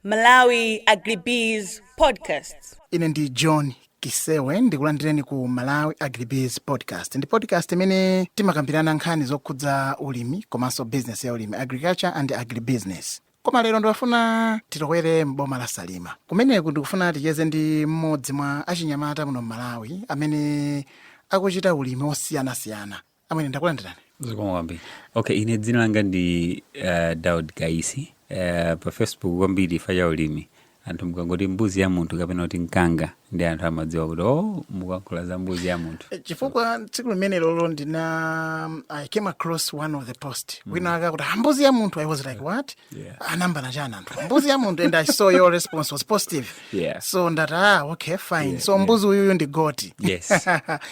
Malawi Agribees Podcasts. ine ndi john kisewe ndikulandireni ku malawi agribees podcast ndi podcast imene timakambirana nkhani zokhudza ulimi komanso business ya ulimi agriculture and agribusiness koma lero ndikufuna titokwere m'boma la salima kumeneku ndikufuna ticheze ndi mmodzi mwa achinyamata muno m'malawi amene akuchita ulimi wosiyanasiyana amene ndakulandirani zikomo kwambiri okay ine dzina langa ndi uh, daud gaisi uh, pa facebook kwambiri chifukwa cha ulimi anthu mukangoti mbuzi ya munthu kapena kuti mkanga ndi anthu amadziwa kuti o oh, mukuyankhula za mbuzi ya munthu eh, chifukwa tsiku limene lilo ndina um, i came across one of the post mm. wina akuti ah, mbuzi ya munthu i was like what yeah. anayambana ah, chani anthu mbuzi ya munthu and i saw your response was positive yeah. so ndati ah okay fine yeah, so mbuzi uyuyu yeah. ndi goti yes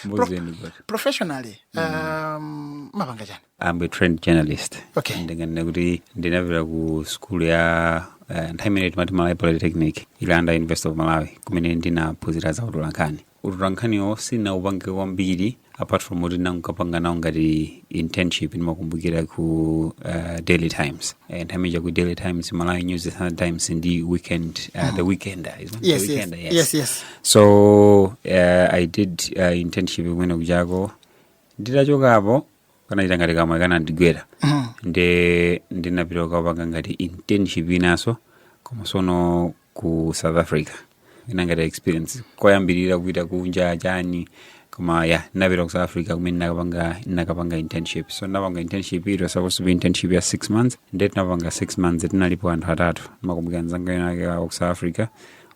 mbuzi ndi goti professionally um, mumapanga chani I'm a trained journalist Okay. ndinganena kuti ndinapita ku sukulu ya eh, nthawi imene timati malawi polytechnic ili under university of malawi kumene ndinaphunzira za utolankhani utolankhaniwo sinaupange kwambiri apart from kuti ndinakapanga nawo ngati internship ndimakumbukira ku uh, daily times Eh, nthawi imene ku daily times malawi news the Sunday times ndi weekend uh, the weekender isn't it? yes, the yes, weekender yes, yes. so uh, i did uh, internship kumene kujako nditachokako kanachita ngati kamwayi kanandigwera nde ndinapita kukapanga ngati internship inanso koma sono ku south africa ina ngati experience koyambirira kupita kunja chani koma ya ndinapita ku south africa kumene nakapanga nakapanga internship so ndinapanga internship it was supposed to be internship ya six months nde tinapanga six months tinalipo anthu atatu ndimakumbukira mzanga wina wake wa ku south africa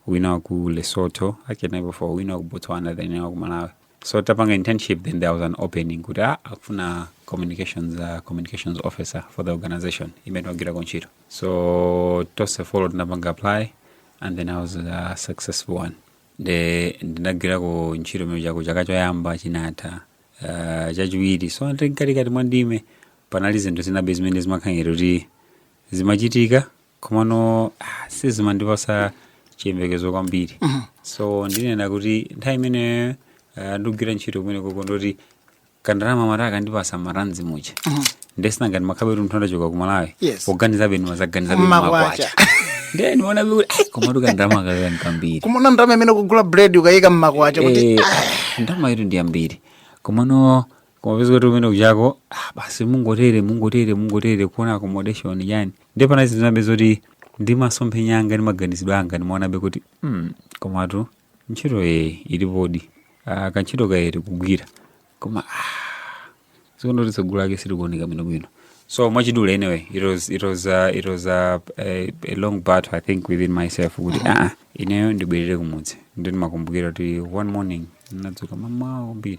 wina wa ku lesotho actually tinali four wina wa ku botswana then wina wa ku malawi so titapanga internship then there was an opening kuti ah, akufuna communications uh, communications officer for the organization imene timagwirako ntchito so tonse four tinapanga apply and then i was a successful one nde ndinagwirako ntchito kumene kujako chaka choyamba chinatha uh, chachiwiri so ndi mkatikati mwa ndime panali zinthu zinabe zimene zimakhala ngati kuti zimachitika komano ah, sizimandipatsa chiyembekezo kwambiri so ndinena kuti nthawi imene ah, ndikugwira ntchito kumenekoko ndi zoti kandalama mara akandipatsa marandzi muja nde sinanga ndimakhalabetu munthu ndachoka kumalawi Yes. kuganizabe ndimadzaganizabe ni Makwacha. makwacha ndiye ndiona kuti ai komatu kandalama kaka ndi kambiri kumaona ndalama imene ukugula bread ukayika mmakwacha kuti Eh, ndalama iyitu ndi yambiri komano koma kumapeza kuti kumene kujako ah, basi mungotere mungotere mungotere kuona accommodation yani ndiye panadzinabe zoti ndi masomphenya anga ndi maganizidwe anga ndimaonabe kuti mm, komatu ntchito ee ilipodi ah, kantchito kaye tikugwira koma ah, zikuoneka kuti tsogolo lake silikuoneka bwinobwino so mwachidule anyway it was, it was, uh, it was uh, a, a long battle i think within myself kuti aa ineyo ndibwerere kumudzi ndimakumbukira kuti one morning ndinadzuka mamawa kwambiri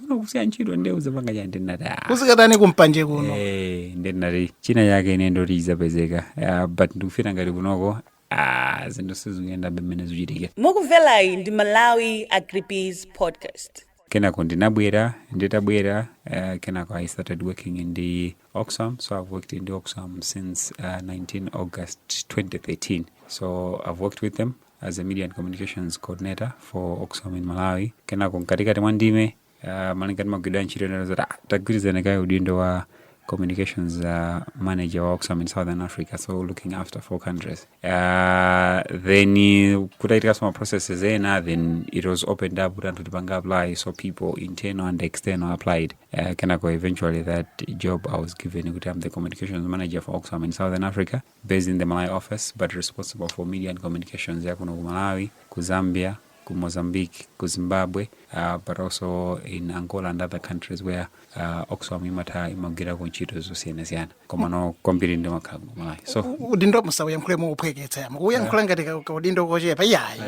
kuno kusiya ntchito nde uzapanga chiyani ndinati "Ah, kuzikhala tani kumpanje kuno Eh, ndinati china chake ine ndoti izapezeka Ah, but ndikufila ngati kunoko ah, zinthu sizikuyenda bwino mmene zichitike mukumverayi ndi malawi agribiz podcast kenako ndinabwera nditabwera uh, kenako i started working in the oxfam so i've worked in the oxfam since uh, 19 august 2013 so i've worked with them as a media and communications coordinator for oxfam in malawi kenako mkatikati mwa ndime uh, malingana ndi magwiridwe a ntchito anandiuza zoti ah, tagwirizira kaye udindo wa communications uh, manager wa oxfam in southern africa so looking after four countries uh, then uh, kutachitikanso ma processes ena then it was opened up kuti anthu tipange apply so people internal and external applied uh, kenako eventually that job i was given kuti i'm the communications manager for oxfam in southern africa based in the Malawi office but responsible for media and communications ya kuno ku Malawi, ku Zambia, ku Mozambique, ku Zimbabwe, uh, but also in Angola and other countries where uh, Oxfam imatha imagwirako ntchito zosiyanasiyana komano kwambiri ndimakhala ku Malawi so U- udindo musauyankhule mouphweketsa ayi mukuyankhula ngati ka- ka udindo kochepa iyayi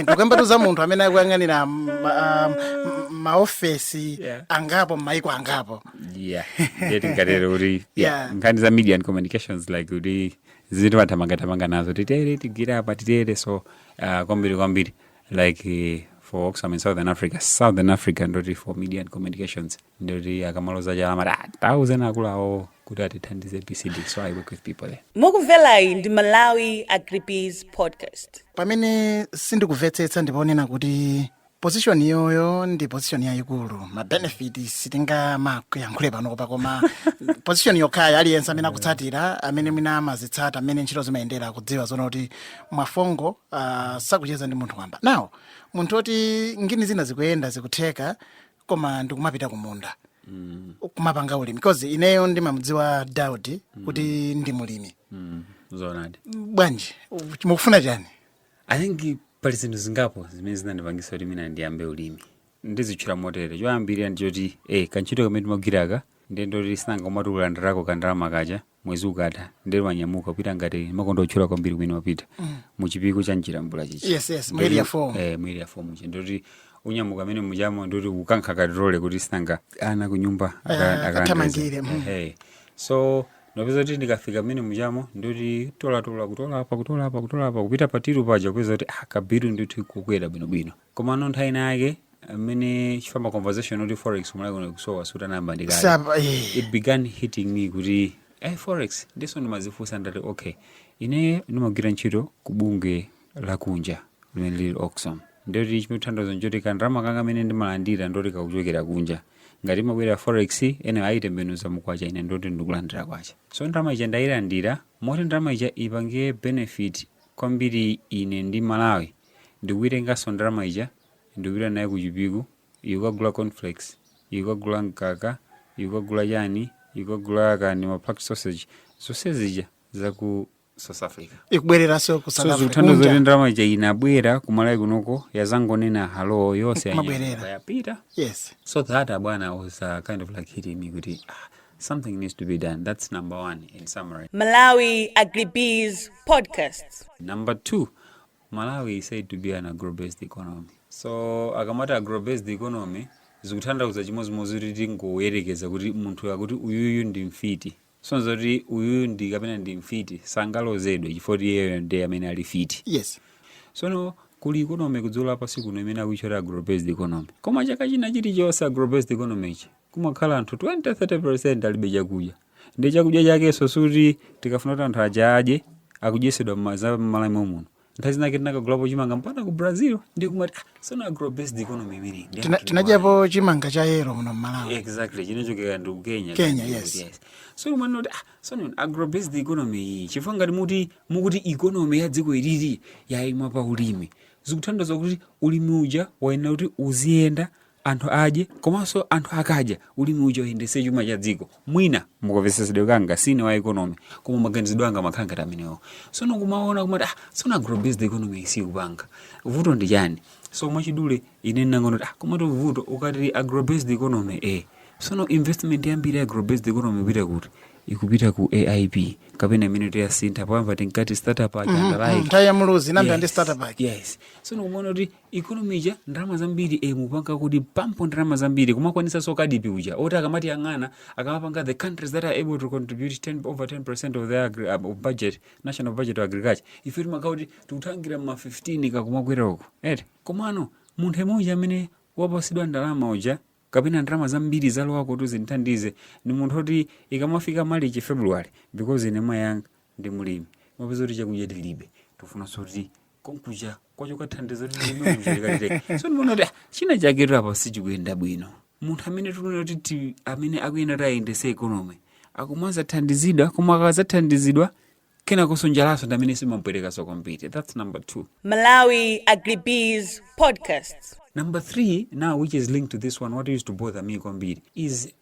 tikukambatu za munthu amene akuyang'anira ma- ah, m- maofesi Yeah. angapo m'maiko angapo yeah ndiye tingatere kuti yeah, Yeah. nkhani za media and communications like kuti zinthu timathamangathamanga nazo titere tigwire apa titere so uh, kwambiri kwambiri like eh, for oxfam in southern africa southern africa ndoti for media and communications ndoti akamaloza chala amati ah, tauzani akuluawo kuti atithandize pcd so i work with people there mukumverayi ndi malawi agribiz podcast pamene sindikumvetsetsa ndi ponena kuti position iyoyo ndi position yayikulu mabenefit sitingawayankhule panopa koma position yokhayo aliyense amene akutsatira amene mwina amazitsata mmene ntchito zimayendera akudziwa zoona kuti mwafongo ah, sakucheza ndi munthu wamba now munthu woti ngini zina zikuyenda zikutheka koma ndikumapita kumunda kumapanga ulimi because ineyo ndimamudziwa daudi kuti ndi mlimi zoonadi bwanji mukufuna chani I think pali zinthu zingapo zimene zinandipangisa kuti mwina ndiyambe ulimi ndizitchula motere choyambirira ndi choti eh, kantchito kamene timagwiraka ndiye ndoti sinanga umati ulandirako kandalama kaja mwezi ukatha ndiye wanyamuka kupita ngati makonda otchula kwambiri kumene wapita mu chipiku cha mchilambula chichi Yes, yes, mu area four. eh, mu area four muja ndoti unyamuka mmene mujamo ndoti ukankha katirole kuti sinanga ana kunyumba aka- Eh, akalandire. akathamangire, mm. Eh, eh. so Ndapeza kuti ndikafika mmene mujamo ndoti tolatola kutola apa kutola apa kutola apa kupita pa tiru paja kupeza kuti ah, kabiru ndithu kukwera bwinobwino komano nthawi ina yake mmene chifamba conversation kuti forex malawi kuno kusowa sutanayamba ndikale Sapa, eh. it began hitting me kuti eh, forex ndiso ndimazifunsa ndati okay ine ndimagwira ntchito kubungwe lakunja limene lili oxfam ndiye kuti chimene thandauzo nchoti ka ndalama kanga kamene ndimalandira ndoti kakuchokera kunja ngati imabwera forex ene ayitembenuza mukwacha ine ndoti ndikulandira kwacha so ndalama ija ndayilandira moti ndalama ija ipange benefit kwambiri ine ndi malawi ndikuitenganso ndalama ija ndikupita naye ku chipiku ikukagula cornflakes ikukagula mkaka ikukagula chani ikukagula kani ma packed sausage zonse zija zaku south africa ikubwereranso ku South Africa. so zikuthandauza Kunja. kuti ndalama ija inabwera kumalawi kunoko yazangonena hello yonse Mabwerera. yanyamuka yapita yes so that abwana was uh, kind of like hitting me kuti ah, something needs to be done that's number one in summary Malawi Agribiz Podcast. number two malawi is said to be an agrobased economy so akamati agrobased economy zikuthandauza chimodzimodzi kuti tingoyerekeza kuti munthu akuti uyuyu ndi mfiti so nzoti uyuyu ndi kapena ndi mfiti sangalozedwe chifukwa kuti iyeyo ndi amene ali fiti yes sono kuli economy kudziko la pansi kuno imene akuitchula agrobased economy koma chaka china chilichonse agrobased economy ichi kumakhala anthu 20-30% alibe chakudya ndi chakudya chakenso suti tikafuna kuti anthu aja adye akudyesedwa m'maza- m'malawi muno nthawi zinake tinakagulapo chimanga mpaka ku brazil ndi kumati ah, sono agro based economy imene ndi Tina- anthu tinadyapo chimanga cha yero muno mmalawi exactly chinachokera ndi ku kenya Kenya, Yes, yes. yes. so umanena kuti ah, sono agro based economy iyi chifukwa ngati muti mukuti economy ya dziko ilili yayima pa ulimi zikuthandauza kuti ulimi uja wayenera kuti uziyenda anthu adye komanso anthu akadya ulimi uja uyendetse chuma cha dziko mwina mukamvetsetsedwe kanga sine wa economy koma maganizidwe anga amakhala ngati amenewo sono kumaona kumati ah sono agrobased economy iyi sikupanga vuto ndi chani so mwachidule ine ndinangoona kuti ah komatu vuto ukati agrobased economy eh sono investment yambiri ya agrobased economy ikupita kuti ikupita ku aip kapena imene tiyasintha poyamba tinkati starter pack ija andalaike nthawi ya muluzi inayambira ndi starter pack yes so ndikumaona kuti economy ija ndalama zambiri eh, mupanga kuti pump ndalama zambiri kumakwanisanso kadipi uja oti akamatiyang'ana akamapanga the countries that are able to contribute 10, over 10 percent of their agri, um, of budget national budget to agriculture ife timakhala kuti tikuthangira ma 15 nkumakwera uko eti komano munthu yemwe uja amene wapasidwa ndalama uja kapena ndalama zambiri zalowa kuti zimthandize ndi munthu oti ikamafika malichi february because ine mayi anga ndi mulimi umapeza kuti chakudya tilibe tifunanso kuti konkuja kwachoka thandizo kuti mlimi uja so ndimaona kuti ah, china chake apa sichikuyenda bwino munthu amene tikuona kuti ti- amene akuyenera kuti ayendese economy akumazathandizidwa koma akazathandizidwa kenakonso njalaso ndi amene imampwetekaso kwambiri that's number two Malawi Agribiz Podcast. Number three, now which is linked to this one, what used to bother me kwambiri is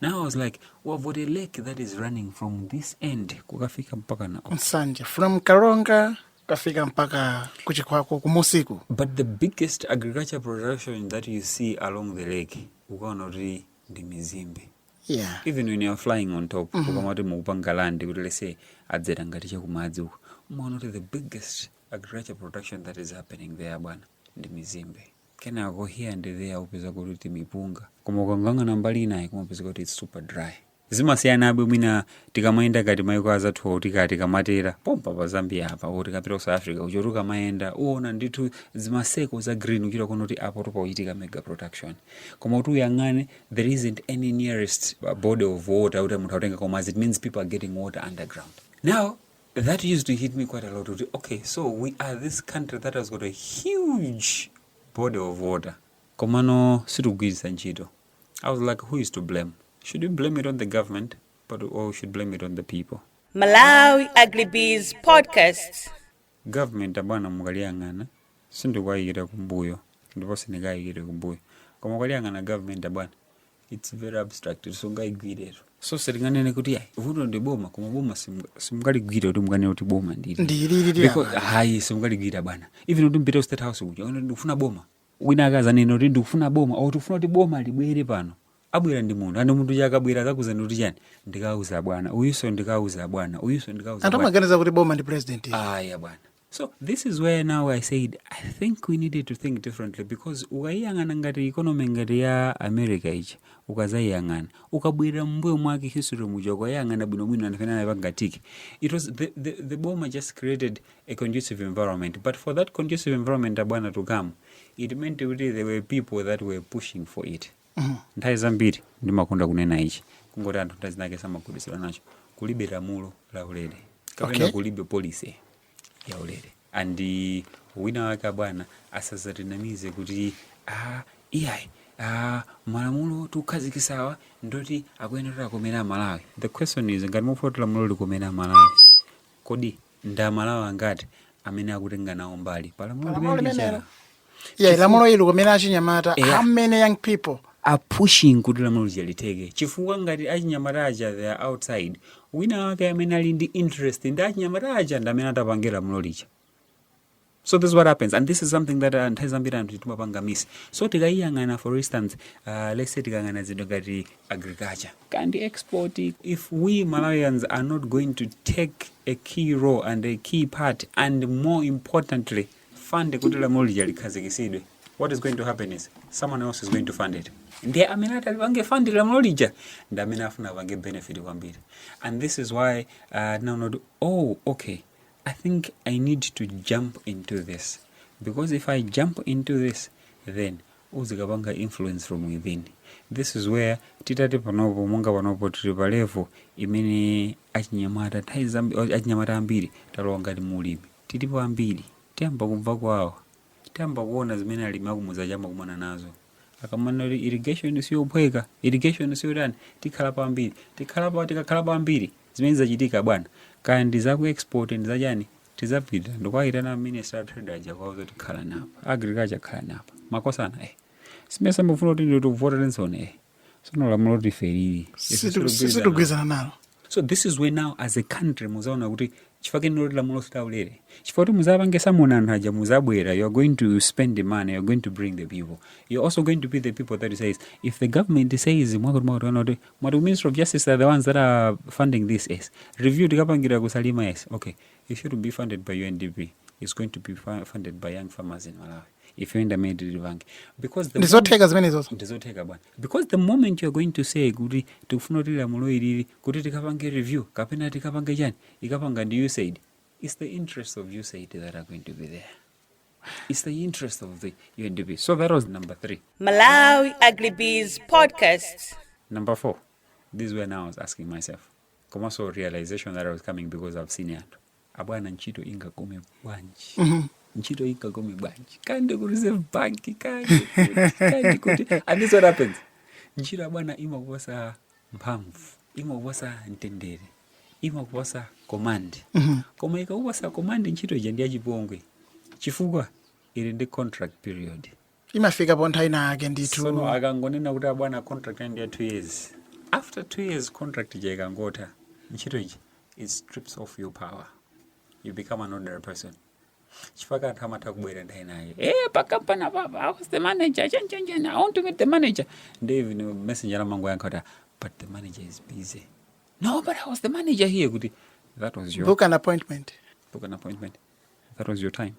Now I was like, we've got a lake that is running from this end kukafika mpaka na. nsanje from karonga kukafika mpaka ku chikwawa kumusiku But the biggest agriculture production that you see along the lake, ukuona kuti ndi mizimbe. yeah Even when you are flying on top, ukamati mukupanga land kuti let's say adzera ngati cha kumadzi uko. Umaona kuti the biggest agriculture production that is happening there bwana ndi mizimbe. kenako here and there upeza kuti timipunga koma ukayang'ana mbali inayi umapeza kuti it's super dry zimasiyanabe mwina tikamayenda ngati maiko anzathuwa kuti ngati tikamatera pompa pa zambia apa tikapita ku south africa ujoti ukamayenda uona ndithu zima circle za green uchita kuona kuti apo pakuchitika mega production koma kuti uyang'ane there isn't any nearest uh, body of water kuti munthu akutenga koma it means people are getting water underground now That used to hit me quite a lot kuti okay so we are this country that has got a huge body of water komano sitikugwiritsa ntchito I was like who is to blame should we blame it on the government but or we should blame it on the people Malawi Agribiz Podcast. government abwana mukaliyang'ana sindikuyikira kumbuyo ndipo sindingayikire kumbuyo koma ukaliyang'ana government abwana it's very abstract sungaigwiretu so sindinganene kuti ayi vuto ndi boma koma boma simu- simungaligwire kuti munganene kuti boma ndi ili lili Because- lili apa ayi simungaligwira bwana even kuti mpite ku state house kuja kuti ndikufuna boma wina akazanena kuti ndikufuna boma or tikufuna kuti boma libwere pano abwera ndi munthu and munthu uja akabwera akakuuzani kuti chani ndikauza bwana uyuso ndikauza bwana uyuso ndikauza anthu bwana amaganiza kuti boma ndi president ayi bwana so this is where now i said i think we needed to think differently because ukayiyang'ana ngati economy ngati ya america ichi ukazayiyang'ana ukabwera mumbuyo mwake history muja ukayiyang'ana bwinobwino anthu amene anapanga tick it was the, the, the boma just created a conducive environment but for that conducive environment abwana to come it meant kuti there were people that were pushing for it Nthawi zambiri ndimakonda kunena ichi kungoti anthu nthawi zinake samagwiritsira nacho kulibe lamulo la ulere kapena Okay. kulibe policy ya ulere and wina wake abwana asazatinamize kuti ah, iyayi ah, malamulo tikukhazikisawa ndi oti akuyenera kuti akomere amalawi the question is ngati mufuna kuti lamulo likomere amalawi kodi ndi amalawi angati amene akutenga nawo mbali pa lamulo Palamulo limeneli limenelo. yeah lamulo likomere achinyamata Yeah. how many young people are pushing kuti lamulo lija litheke chifukwa ngati achinyamata aja they are outside wina wake amene ali ndi interest ndi achinyamata aja ndi amene atapange lamulo lija so this is what happens and this is something that uh, nthawi zambiri anthu timapanga miss so tikayiyang'ana for instance uh, let's say tikayang'ana zinthu ngati agriculture kaya ndi export if we malawians are not going to take a key role and a key part and more importantly fund kuti lamulo lija likhazikisidwe what is going to happen is someone else is going to fund it ndiye amene atalipange fund lamulo lija ndi amene afuna apange benefit kwambiri and this is why uh, now not oh okay I think I need to jump into this because if I jump into this then uzikapanga influence from within this is where titati panopo monga panopo tili pa level imene achinyamata nthawi zambi- achinyamata ambiri talowa ngati mulimi tilipo ambiri tiyamba kumva kwawo tiyamba kuona zimene alimi akumudzi ayamba kukumana nazo akamanena kuti irrigation siyophweka irrigation siyotani tikhalapo ambiri tikhalapo tikakhalapo ambiri Zimene zizachitika bwana, kaya ndi za ku export ndi za chani, tizapita ndikuwaitana a minister a trade aja kuwauza kuti khalani apa, agriculture khalani apa, makosana eh si mmesa mufuna kuti tikuvoterensoni eh sono lamulo loti ife ili ife Situ- sitikugwirizana. sitigwirizana nalo so this is where now as a country muzaona kuti chifukwa chake ndi choti lamulo si laulere chifukwa kuti muzapange summon anthu aja muzabwera you are going to spend the money you are going to bring the people you are also going to be the people that says if the government says mwakuti mwakuti kana kuti mwati ku ministry of justice are the ones that are funding this yes review tikapangira ku salima yes okay it should not be funded by undp it's going to be fu- funded by young farmers in malawi ife ndamene tilipange because the ndizotheka zimenezozo ndizotheka bwana because the moment you are going to say kuti tikufuna kuti lamulo ilili kuti tikapange review kapena tikapange chani ikapangidwa ndi usaid its the interest of usaid that are going to be there It's the interest of the UNDP. So that was number three. Malawi Agribiz Podcast. Number four, this is when I was asking myself, komanso realization that I was coming because I've seen it. Abwana ntchito ingakome bwanji? Mm-hmm. Ntchito ingakome bwanji? Kaya ndi ku Reserve Bank kaya ndi kuti kaya ndi kuti. And this what happens. Ntchito abwana imakuposa mphamvu imakupatsa mtendere imakupatsa command mhm. koma ikakupatsa command ntchito ija ndi yachipongwe chifukwa ili ndi contract period imafika pa nthawi ina yake ndithu sono akangonena kuti abwana contract ndi ya two years after two years contract ija ikangotha ntchito ija it strips off your power you become an ordinary person chifukwa anthu amatha kubwera ndayima naye eh pa company apa apa, I was the manager chani chani chani I want to meet the manager ndi even messenger amangoyankha kuti but the manager is busy no but I was the manager here kuti that was your book an appointment that was your time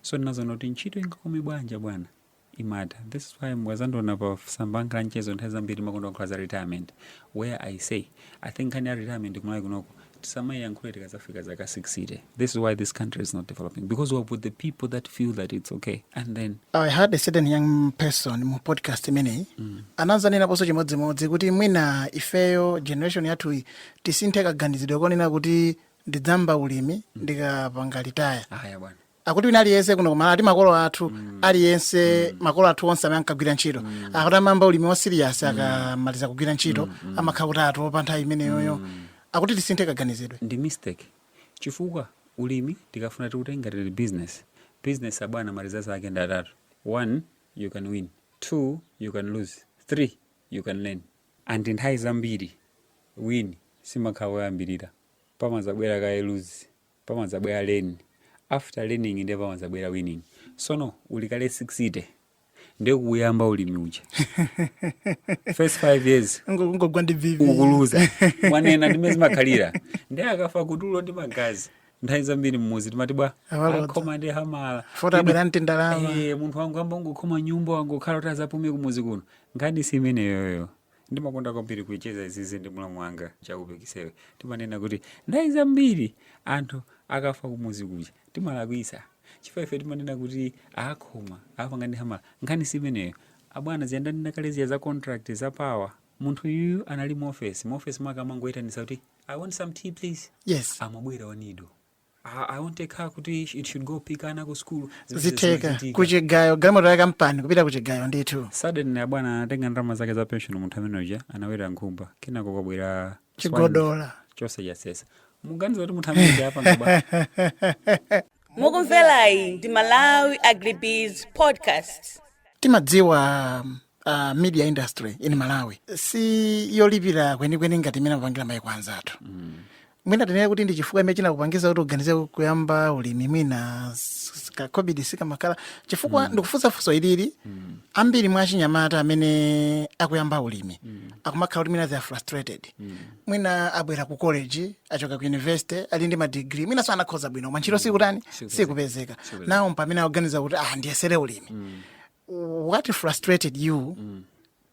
so ndinadzaona kuti ntchito ingakome bwanji bwana imatha this is why mukadzandiona pa tsamba langa la mchezo nthawi zambiri ndimakonda kukamba za retirement where i say i think nkhani ya retirement kumalawi kunoko tisamayiyankhule tikadzafika zaka 60 this is why this country is not developing because we have put the people that feel that it's okay and then I heard a certain young person mu podcast imeneyi mm. anadzanenaponso chimodzimodzi kuti mwina ifeyo generation yathuyi tisinthe kaganizidwe konena kuti ndidzayamba ulimi ndikapanga retire aya bwana akuti wina aliyense kuno kumalawi ati makolo athu aliyense makolo athu onse amene ankagwira ntchito akuti amayamba ulimi wa serious akamaliza kugwira ntchito amakhala kuti atopa nthawi imeneyoyo akuti tisinthe kaganizidwe ndi mistake chifukwa ulimi tikafuna tiutenga tili business business abwana ma result ake ndi atatu one you can win two you can lose three you can learn and nthawi zambiri win simakhala koyambirira pamadzabwera kaye lose pamadzabwera learn after learning ndiye pamadzabwera winning sono uli kale 60 ndiye kuyamba ulimi uja first 5 years ngogwa ndi vivi ukuluza mwanena ndi mmene zimakhalira ndiye akafa kutuluka magazi nthawi zambiri mmuzi timati bwa amukhoma ndi hamala poti abwera ndi ndalama Eh, munthu wangoyamba wangokhoma nyumba wangokhala kuti adzapume kumuzi kuno nkhani si imeneyoyo Ndimakonda kwambiri kucheza izizi ndi mlamu wanga Chakupe Kisewe. Timanena kuti nthawi zambiri anthu akafa kumuzi kuja timalakwitsa chifukwa ife timanena kuti akhoma apanga ndi hamala. Nkhani si imeneyo abwana, zija ndanena kale zija za contract za power. Munthu uyu anali mu ofesi, mu ofesi mwake amangoyitanitsa kuti I want some tea please, yes, amabwera I need a car kuti it should go pick ana ku school zitheka kuchigayo galimoto ya kampani kupita kuchigayo ndithu suddenly abwana anatenga ndalama zake za pension munthu amene uja anaweta nkhumba kenako kwabwera chigodola chose chasesa muganiza kuti munthu amene uja apanga bwa mukumvelayi ndi malawi agribusiness podcast timadziwa uh, media industry in malawi si yolipira kwenikweni ngati imene amapangira maiko anzathu mm. mwina tinene kuti ndi chifukwa imene chinakupangiza kuti uganize kuyamba ulimi mwina s- s- ka covid sikamakhala chifukwa ndikufunsa funso ilili ambiri mwa achinyamata amene akuyamba ulimi akumakhala kuti mwina they are frustrated mwina abwera ku college achoka ku university ali ndi madigiri mwinanso anakhoza bwino koma ntchito sikutani sikupezeka naye mpamene akuganiza kuti ah ndiyesere ulimi what frustrated you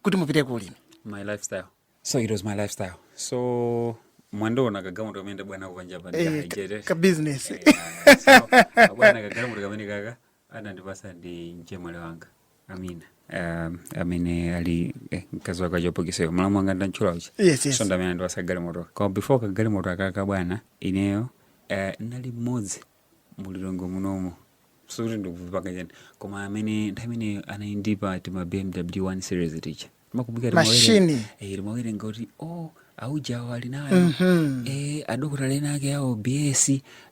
kuti mupite ku ulimi my lifestyle so it was my lifestyle so mwandiona kagalimoto kamene ndabwera nako panjapa Eh, ndi ka Hijet. ka- ka business. Eh, ah, so, abwana kagalimoto kameneka anandipasa ndi mchemwali wanga Amina Um, amene ali eh, mkazi wake achopokiseyo alamu anga ndantchula uchi Yes, yes. so ndamene anandipasa galimoto koma before kagalimoto akaka bwana ineyo eh, nali mmodzi mulilongo munomo sikuti ndikuzipanga chani koma amene nthawi imene anali ndi tima bmw 1 series ticha Machine. timawerenga kuti o aujawo ali nayo eh, adokotala ena ake awo bs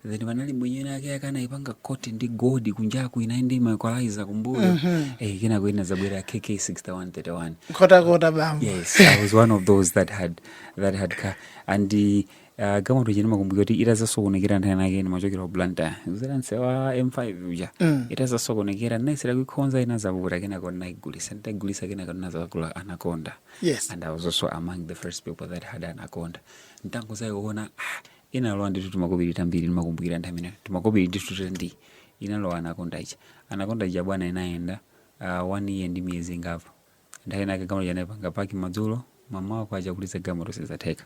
then panali mwenye ena ake ake anaipanga koti ndi godi kunjaku inali ndi maequalizer kumbuyo eh, kenako ina inazabwera kk 6131 nkhotakota bambo yes i was one of those that had that had car and uh, Ah, galimoto ija ndimakumbukira kuti itazasokonekera nthawi nake ndimachokera ku Blantyre kudzera nsewa m5 uja itazasokonekera ndinayesera kuikonza inazavuta kenako ndinaigulisa nditaigulisa kenako ndinazakagula anaconda Yes. and i was also among the first people that had anaconda ntangozayi kuona ah, inalowa ndithu timakobiri tambiri ndimakumbukira nthawi imeneyo timakobiri ndithu tandithu inalowa anaconda ija anaconda ija bwana inayenda ah, one year ndi miyezi ingapo nthawi inake galimoto ija ndinaipanga paki madzulo mmawa wake kuti ndilize galimoto sizatheka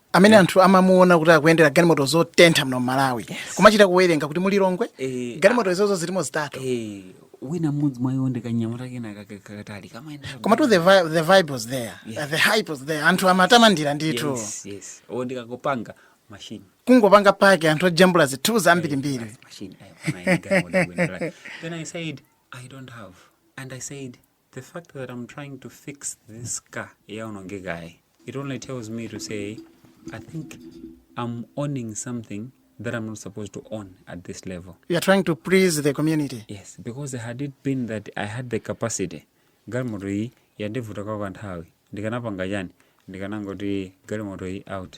amene anthu amamuona kuti akuyendera galimoto zotentha muno mmalawi kumachita kuwerenga kuti mulilongwe eh, galimoto izozo zilimo zitatu eh, wina mmodzi mwa iwo ndikanyamata kena kakatali koma tu the, vi the vibe was there yeah. the hype was there anthu amatamandira ndithu yes, yes. olo ndikangopanga machine kungopanga paki anthu ojambula zithunzi zambirimbiri eh, then i said i don't have and i said The fact that I'm trying to fix this car yaonongekayi, it only tells me to say I think I'm owning something that I'm not supposed to own at this level. You are trying to please the community. Yes, because had it been that I had the capacity, galimoto iyi yandivuta kwa kanthawi ndikanapanga chani ndikanangoti galimoto iyi out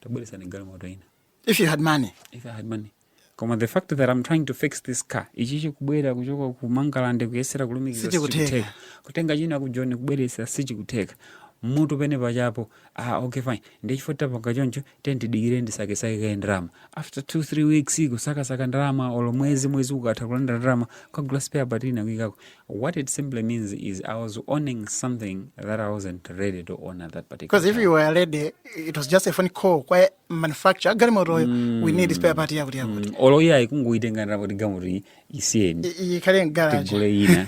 tabweresani galimoto ina if you had money if i had money koma the fact that i'm trying to fix this car ichi chikubwera kuchoka ku mangalande kuyesera kulumikiza Sichikutheka. sichikutheka kutenga china ku Joni kubweresa sichikutheka mutu penipeni pachepa ah, okay fine ndichifukwa tapanga choncho tiye tidikire ndisakesake kaye ndalama after two three weeks kusakasaka ndalama olo mwezi mwezi ukatha kulandira ndalama kukagula spare part ina kuikako what it simply means is i was owning something that i wasn't ready to own at that particular because if time. you were ready it was just a phone call kwa manufacture galimotoyo mm. we need spare part yakuti yakuti mm. olo iyayi kungoyitenga ndalapo ti galimoto isiyeni ikhale mgaraji tigule ina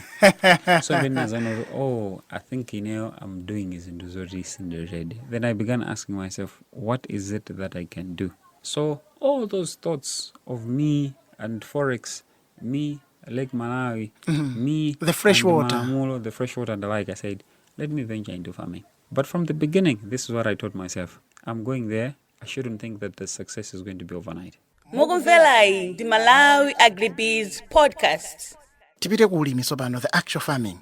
so then nazanoti oh i think ineyo i'm doing zinthu zoti sindiredi then i began asking myself what is it that i can do so all those thoughts of me and forex me lake malawi mm -hmm. me the fresh water Mamulo, the fresh water and the like i said let me venture into farming But from the beginning, this is what I told myself. I'm going there. I shouldn't think that the success is going to be overnight. mukumverayi ndi Malawi Agribiz podcast tipite ku ulimi tsopano the actual farming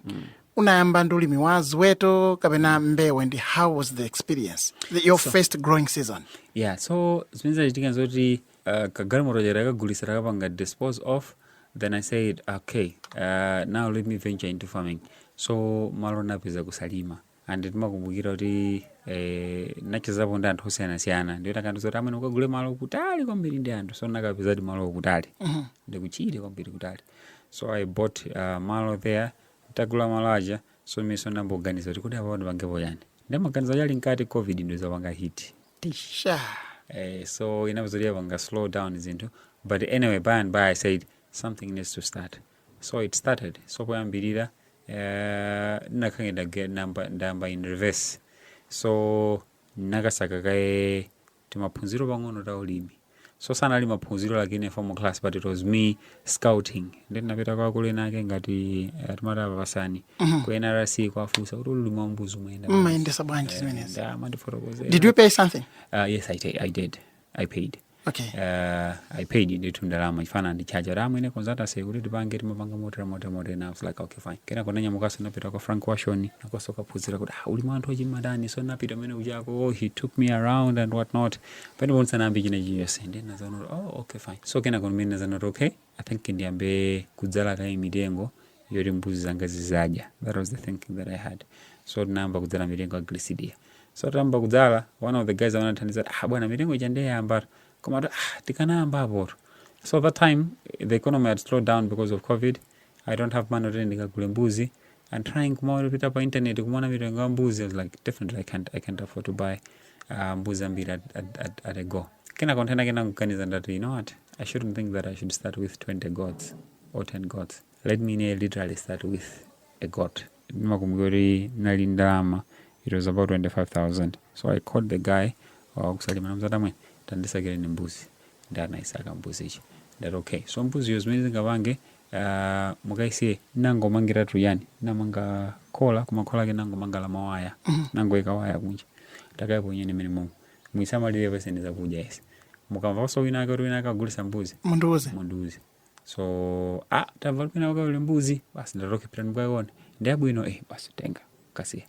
unayamba ndi ulimi wa ziweto kapena mbewu and how was the experience the, your first growing season Yeah, so zimene zinachitika zoti uh, kagalimoto cha nakagulisa takapanga dispose of then i said okay uh, now let me venture into farming so malo napeza ku Salima and ndimakumbukira kuti eh, nachezapo ndi anthu osiyanasiyana ndiyo atakandiuza kuti amwene ukagule malo kutali kwambiri ndi anthu so nakapezadi malo kutali ndi kutchire kwambiri kutali so i bought uh, malo there tagula malo aja so mmutu ndayamba kuganiza kuti kuti apa pandipangepo chani ndimaganiza chani mkati covid ndizapanga hit Tisha. Eh, so inavutabe inapanga slow down zinthu but anyway by and by i said something needs to start so it started so poyambirira uh, ndinakhangati ndage- ndamba- ndayamba in reverse so ndinakasaka kaye timaphunziro pang'ono ta ulimi so sanali maphunziro like in a formal class but it was me scouting ndi ndinapita kwa akulu ena ake ngati eh, timati a Pasani ku nrc kwafunsa kuti ulimi wa mbuzi umayenda bwanji? mumayendetsa bwanji Eh, zimenezi nde amandifotokozera. did you pay something Uh, yes I, ta- I did i paid okay uh, i paid ndithu ndalama chifukwa anandichaja kuti amwene consultancy kuti tipange timapanga motera motera motera and i was like okay fine kenako nanyamukanso napita kwa frank washon ukonso kukaphunzira kuti ah, ulimi wa anthu akuchita motani so napita kumene kujako oh, he took me around and what not pamenepo ndisanayambe china chilichonse ndiye ndinazaona kuti oh okay fine so kenako ndimene ndinazaona kuti okay i think ndiyambe kudzala kaye mitengo yoti mbuzi zanga zizidya that was the thinking that i had so tinayamba kudzala mitengo ya gliricidia so tayamba kudzala one of the guys amene anathandiza kuti, ah bwana mitengo ija nde yayambatu koma kuti, ah tikanayambapoto so that time the economy had slowed down because of covid i don't have money kuti ndikagule mbuzi and trying kumawera pita pa internet kumaona mitengo ya mbuzi I was like definitely I can't, I can't afford to buy uh, mbuzi ambiri at, at, at, at a go kena container kena kuganiza ndati you know what I shouldn't think that I should start with 20 goats or 10 goats let me near literally start with a goat ndimakumbuka kuti nali ndalama it was about 25000 so I called the guy wakusalima namzata mwene tandisakire ni mbuzi ndi anayisaka mbuzi ichi ndati okay so mbuziyo zimene zingapange Aaa mukaise nangomangiratu chani namanga khola koma khola lake nangomanga la mawaya nangoika waya kunja takayaponyeni mmene momo muisamalire muipase zakudya ese mukamvanso wina ake kuti wina ake agulisa mbuzi mundiuze mundiuze so ah tamva kuti wina wake ali ndi mbuzi basi ndati okay pitani mukaione ndi yabwino eh basi tengani kasiyeni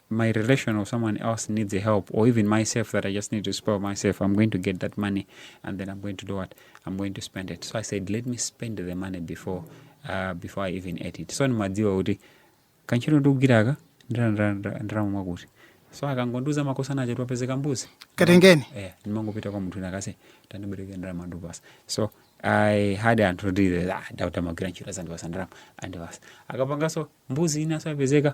my relation or someone else needs a help or even myself that I just need to spoil myself, I'm going to get that money and then I'm going to do what? I'm going to spend it. So I said, let me spend the money before uh, before I even ate it. So ndimadziwa kuti kantchito ndikugwiraka ndalama mwakuti, so akangondiuza ma contact achoti papezeka mbuzi katengeni yeah, ndimangopita kwa munthu wina wake ase tandibereke ndalama ndikupasa so i had anthu kuti ah, Daudi amagwira ntchito azandipasa ndalama andipasa akapanganso mbuzi ina nso yapezeka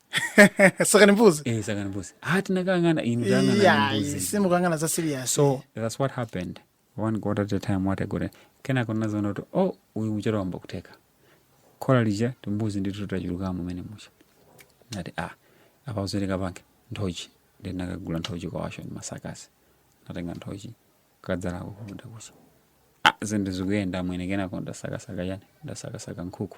sakani mbuzi eh sakani mbuzi ah tinakangana inu tangana iya mbuzi simukangana za serious so that's what happened one got at a time what i got kena kona zono to oh uyu mchero wamba kuteka kola lija timbuzi ndi tuta chuluka mu mene mucho nati ah apa uzeleka banke ntochi ndi nakagula ntochi kwa washo ndi masakasi natenga ntochi kadzala ko kumuda kucha ah zende zikuyenda mwene kena konda sakasaka yani ndasakasaka nkuku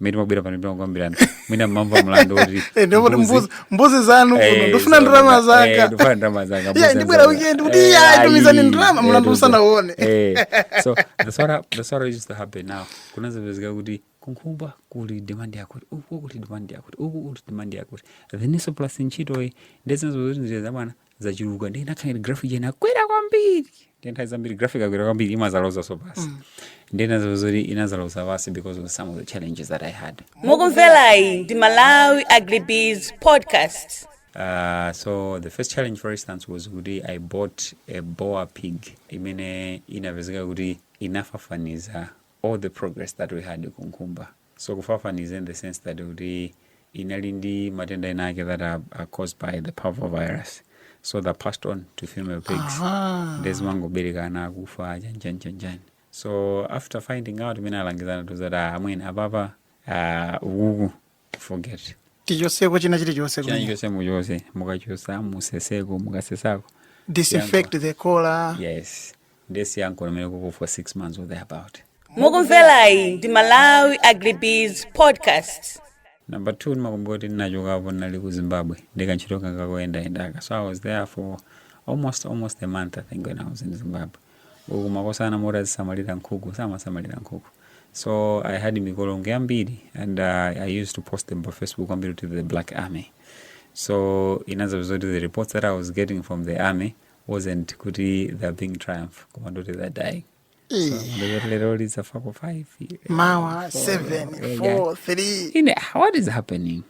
mmene timabwera pano timakukambirana mwina mumamva mlandu woti Eh, ndipo kuti mbuzi- mbuzi zanu kuno Eh, ndifuna so- ndalama eh, zanga ndifuna ndalama zanga, Yeah, mbuzi ndibwera zanga. weekend kuti Eh, iya ayi, tumizani ndalama eh, mlandu tumizani. usanauone Eh, so that's what hap- that's what used to happen now kunazapezeka kuti kunkhumba kuli demand yakuti uku kuli demand yakuti uku kuli demand yakuti then so plus ntchitoyi nde zinazo kuti njira zabwana zachuluka ndiye inakhala ngati graph ija inakwera kwambiri ndiye nthawi zambiri graph ikakwera kwambiri imazalozaso pansi ndiye inazapezeka kuti inazaloza pansi because of some of the challenges that i had mukumvelayi ndi malawi agribiz podcast Uh, so the first challenge for instance was kuti i bought a boar pig imene inapezeka kuti inafafaniza all the progress that we had kunkhumba So kufafaniza in the sense that kuti inali ndi matenda ena ake that are, are caused by the parvovirus so they passed on to female pigs Aha. nde zimangobereka ana akufa aja njani njani njani so after finding out mmene alangizi anatiuza kuti amwene apapa ah, ukuku forget tichoseko china chilichonse china kumene. chonse muchose mukachosa museseko mukasesako disinfect the khola yes ndesi yankolo mene kuku for six months or thereabout mukumvelayi ndi malawi agribiz podcast number two ndimakumbuka kuti ndinachokapo ndinali ku zimbabwe ndi kantchito kanga koyendayendaka so i was there for almost almost a month i think when i was in zimbabwe uku makosana moti azisamalira nkhuku samasamalira nkhuku so i had mikolongwe yambiri and uh, i used to post them pa facebook kwambiri to the black army so inazapeza kuti the reports that i was getting from the army wasn't kuti they're being triumph koma ndoti they're dying so Eh, ndi zoti lero zafako 5 mawa 7 4 3 ine ah, what is happening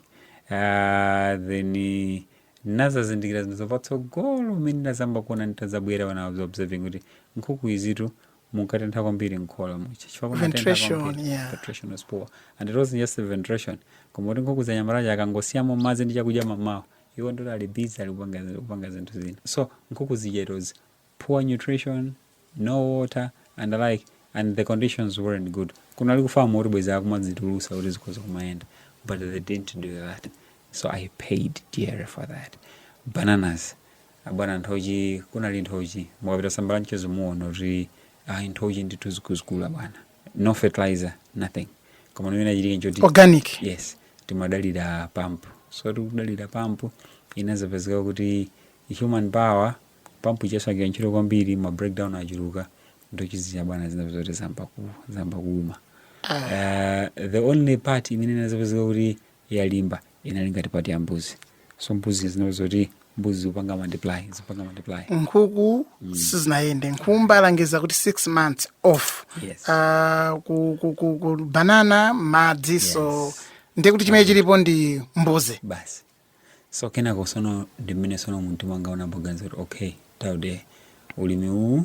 uh, then eh, nazazindikira zinthu zapatsogolo mmene ndazamba kuona nditazabwera when i was observing kuti nkhuku izitu munkatentha kwambiri mkhola muja chifukwa kunatentha Ventration, kwambiri. yeah. Ventilation was poor and it wasn't just the ventilation koma kuti nkhukuzi anyamata aja akangosiyamo madzi ndi chakudya mamawa iwo ndoti ali busy ali kupanga kupanga zinthu zina so nkhuku zija it was poor nutrition no water and the like and the conditions weren't good kunali ku famu kuti bwezi akumazitulusa kuti zikhoza kumayenda but they didn't do that so i paid dear for that bananas abwana nthochi kunali nthochi mukapita sambala mchezo muona kuti ayi nthochi ndithu zikuluzikulu bwana no fertilizer nothing koma chimene chinachitika nchoti organic yes timadalira pampu so tikudalira pampu inazapezeka kuti human power pampu ija isakugwira ntchito kwambiri ma breakdown achuluka nthochi zija bwana zinapezeka kuti zamba ku- zamba kuuma uh, the only part imene inazapezeka kuti yalimba inali ngati part ya mbuzi so mbuzi zinali zoti mbuzi zikupanga multiply zikupanga multiply nkhuku sizinayende nkhumba alangiza kuti six months off Yes. Ah, ku, ku, ku, ku banana madzi so Yes. ndiye kuti chimene chilipo ndi mbuzi basi so kenako sono ndi mmene sono mtima wanga unayamba kuganiza kuti okay daud ulimi uwu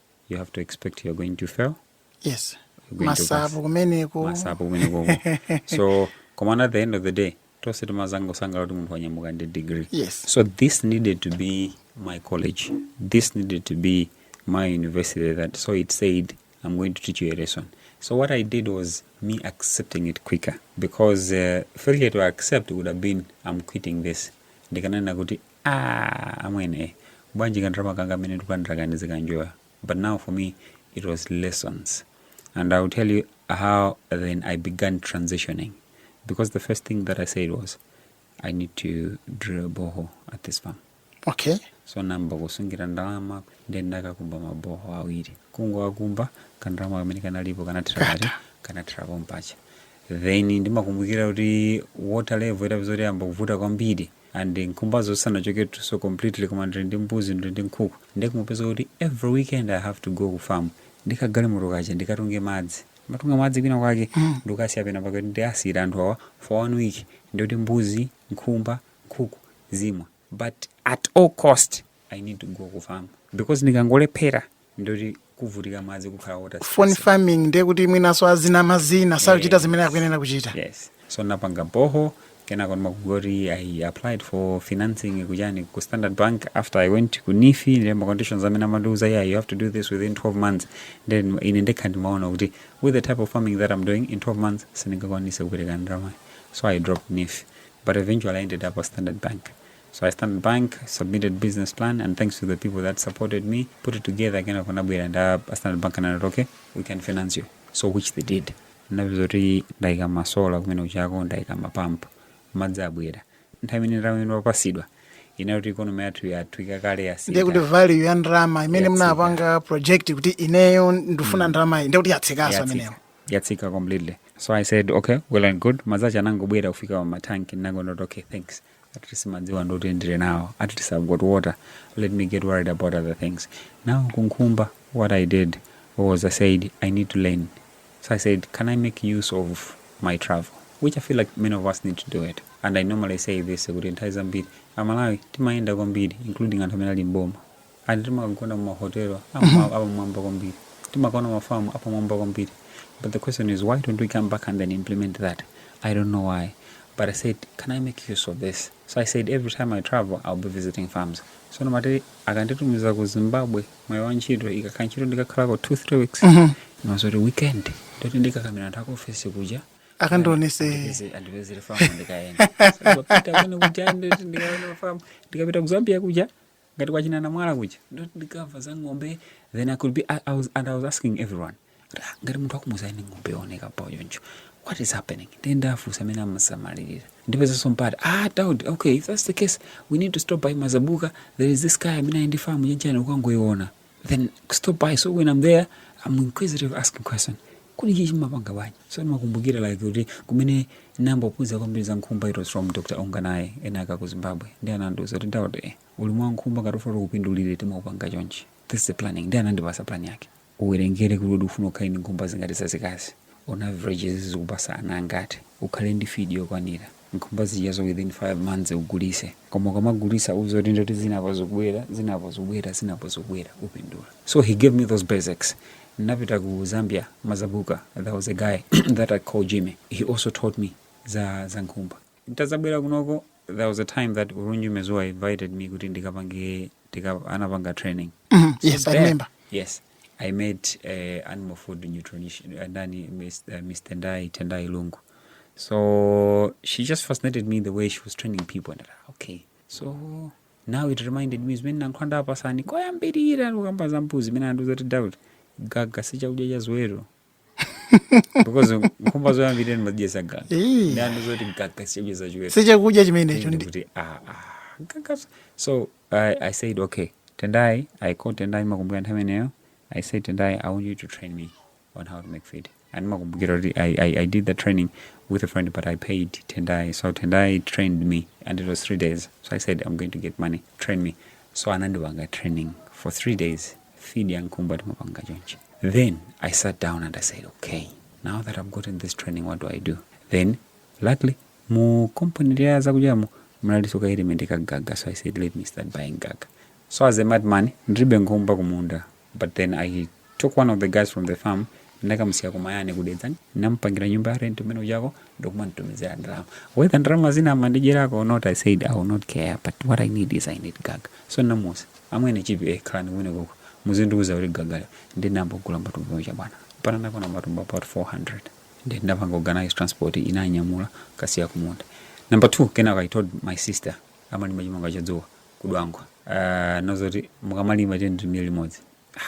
you have to expect you're going to fail yes you're going to pass. masapo kumeneko masapo kumeneko so komana at the end of the day tose timazangosangala kuti munthu wanyamuka ndi degree Yes. so this needed to be my college this needed to be my university that so it said i'm going to teach you a lesson so what i did was me accepting it quicker because uh, failure to accept would have been i'm quitting this ndikanena kuti Aaa amwene bwanji ka ndalama kanga kamene ndikulandira ka ndizikanjoya but now for me it was lessons and I'll tell you how then I began transitioning because the first thing that I said was I need to drill a borehole at this farm okay so namba kusungira ndalama ndi ndakakumba maboho awiri kungowakumba kandalama kamene kanalipo kanathera kati kanathera pompaja then ndimakumbukira kuti water level itapeza kuti yamba kuvuta kwambiri and nkhumbazo sanachoketuso completely koma ndili ndi mbuzi ndili ndi nkhuku ndiye kumapeza kuti every weekend i have to go ku farm ndi kagalimoto kaja ndikatunge madzi ndimatunga madzi kwina kwake ndikasiya pena pake ndiwasiyira anthu awa for one week ndikuti mbuzi nkhumba nkhuku zimwe but at all cost i need to go ku farm because ndikangolephera ndoti kuvutika madzi kukhala water phone stress. farming ndiye kuti mwinanso azinamazina sakuchita zimene akuyenera kuchita yes so napanga boho kenako ndimakumbuka kuti i applied for financing kujani ku standard bank after i went ku NEEF ndi ma conditions amene amandiuza yeah you have to do this within 12 months then ine ndekha ndimaona kuti with the type of farming that i'm doing in 12 months sindingakwanitse kupereka ndalama so i dropped NEEF but eventually i ended up at standard bank So at Standard Bank, submitted business plan, and thanks to the people that supported me, kuti together kenako anabwera and uh, a Standard Bank anati okay, we can finance you. So which they did. Ndapeza kuti ndaika masola kumene kujako ndaika mapampu madzi abwera nthawi imene nthawi imene wapatsidwa inali kuti ikonomi yathu yathu ikakale ndiye yasiyika kuti value ya ndalama imene Yatsika. munapanga project kuti ineyo ndifuna ndalama iyi ndiye kuti yatsikaso yatsika amenewo yatsika completely so i said okay well and good madzi aja atangobwera kufika pa matanki nangonoti okay thanks at least madziwa ndoti ndili nawo at least i've got water let me get worried about other things now kunkhumba what i did was i said i need to learn so i said can i make use of my travel which i feel like many of us need to do it and i normally say this kuti nthawi zambiri amalawi timayenda kwambiri including anthu amene ali m'boma And timagona mumahotelo apamwamba kwambiri, timakaona mafamu apamwamba kwambiri but the question is why don't we come back and then implement that? I don't know why but I said can I make use of this? So I said every time I travel I'll be visiting farms. So ndimati akanditumiza ku Zimbabwe mwayi wa ntchito ikakhala ntchito ndikakhalako 2 3 weeks ndimadziwa zoti weekend ndoti ndikakamira anthu akuofesi kuja akandionese Andipeze- andipezere famu ndikayenda So, ndikapita komwe kuja ndikaona famu ndikapita ku Zambia kuja ngati kwa china Namwala kuja ndikamva za ng'ombe then i could be I, I was, and i was asking everyone ah, ngati munthu akumuuza iii ng'ombe yooneka bwa choncho what is happening ndiye ndafunsa amene amasamalirira ndipezanso mpata ah daud okay if that's the case we need to stop by mazabuka there is this guy amene ali ndi famu chanichani ukangoiona then stop by so when i'm there i'm inquisitive asking questions kodi ichi mumapanga bwanji so ndimakumbukira like kuti kumene ndinambophunzira kwambiri za nkhumba it was from dr onganaye ena ake a ku zimbabwe ndi anandiuza kuti daudi ulimi wa nkhumba ngati ufuna kupindulire timaupanga chonchi this is the planning ndi anandipasa plan yake uwerengere kuti kodi ufuna ukhale ndi nkhumba zingati zazikazi on average zizikupasa ana angati ukhale ndi feed yokwanira nkhumba zijazo within 5 months ugulise koma ukamagulisa uziwe kuti ndoti zinapo zikubwera zinapo zikubwera zinapo zikubwera upindula so he gave me those basics napita ku zambia mazabuka there was a guy that i call jimmy he also taught me za, za nkhumba ntazabwera kunoko there was a time that ulunji mezuwa invited me kuti ndikapange tika, anapanga training yes i remember yes I made uh, animal food nutrition uh, Nani, Miss, uh, Miss Tendai, Tendai Lungu. So she just fascinated me the way she was training people. And I, okay, so now it reminded me zimene nankhwanda apasani koyambirira kukamba za mbuzi imene andiuza kuti doubt gaga si chakudya cha ziweto because nkhumba zoyambirira ndimadyesa gaga Eh. anandiuza zoti gaga sichakudya cha ziweto sichakudya chimenecho ndi kuti ah, ah, gaga so I, i said okay tendai i called tendai makumbukira nthawi imeneyo i said tendai i want you to train me on how to make feed and makumbukira kuti I, I, i did the training with a friend but i paid tendai so tendai trained me and it was three days so i said i'm going to get money train me so anandipanga training for three days feed ya nkumba timapanga chonchi then i sat down and i said okay now that i've gotten this training what do i do then luckily mu company lya zakudyamo mnaliso ka element ka gaga so i said let me start buying gaga so as a madman ndilibe nkhumba kumunda but then i took one of the guys from the farm ndinakamusiya ku mayani ku dedza ndinamupangira nyumba ya rent kumene kujako ndikumanditumizira ndalama whether ndalama zina amandidyerako or not i said i will not care but what i need is i need gaga so ndinamuuza amwene chipi eh, khalani kumene koko muzindiuza kuti gagale ndinambogula matumba aja bwana pano anakwana matumba about 400 ndi ndinapanga organize transport inanyamula kukasiya kumunda number two kenako i told my sister amalima chimanga chodzuwa ku dwangwa uh, nozoti mukamalima tilimire limodzi